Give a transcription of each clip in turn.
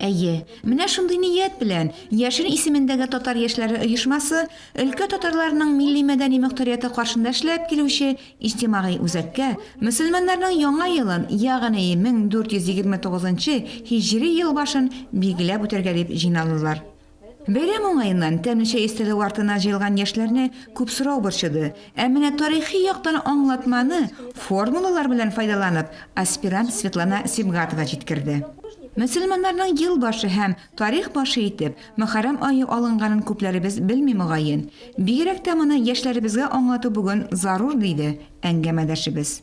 Әйе, менә шундый ният белән Яшел исемендәге татар яшьләре оешмасы өлкә татарларының милли-мәдәни мөхтәрияте каршында эшләп килүче иҗтимагый үзәккә мөселманнарның яңа елын, ягъни 1429 һиҗри елбашын билгеләп үтәргә дип җыйналдылар. Бәйрәм уңаеннан тәмле чәй өстәле артына җыелган яшьләрне күп сорау борчыды. Ә менә тарихи яктан аңлатманы, формулалар белән файдаланып, аспирант Светлана Сибгатова җиткерде. Мөселманнарның ел башы һәм тарих башы итеп Мөхәррәм ае алынганын күпләребез белми, мөгаен. Бигрәк тә моны яшьләребезгә аңлату бүген зарур, диде әңгәмәдәшебез.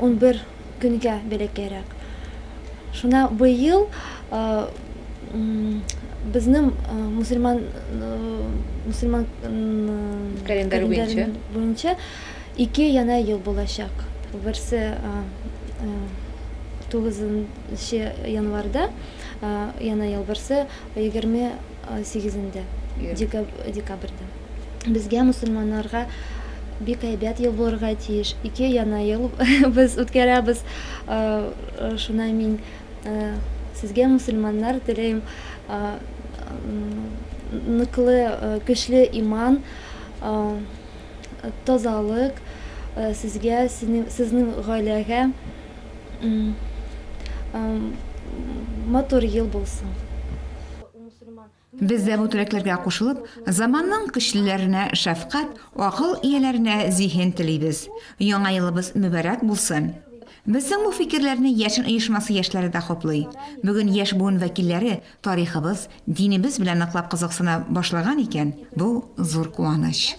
унбер көнгә бәләкәйрәк. Шуна быел безнең мусульман мусульман календарь буенча ике яна ел булачак. Берсе тугызынчы январьда яна ел, берсе егерме сигезендә декабрьдә безгә мөселманнарга бик әйбәт ел булырга тиеш ике яна ел без үткәрәбез шунай мин сезгә мөселманнар теләйм ныклы көчле иман тазалык сезгә сезнең гаиләгә Матур ел булсын. Без дә бу теләкләргә кушылып, заманның көчлеләренә шәфкать, акыл ияләренә зиһен телибез. Яңа елыбыз мөбарәк булсын! Безнең бу фикерләрне Яшен оешмасы яшьләре дә хуплый. Бүген яшь буын вәкилләре тарихыбыз, динебез белән ныклап кызыксына башлаган икән, бу зур куаныч.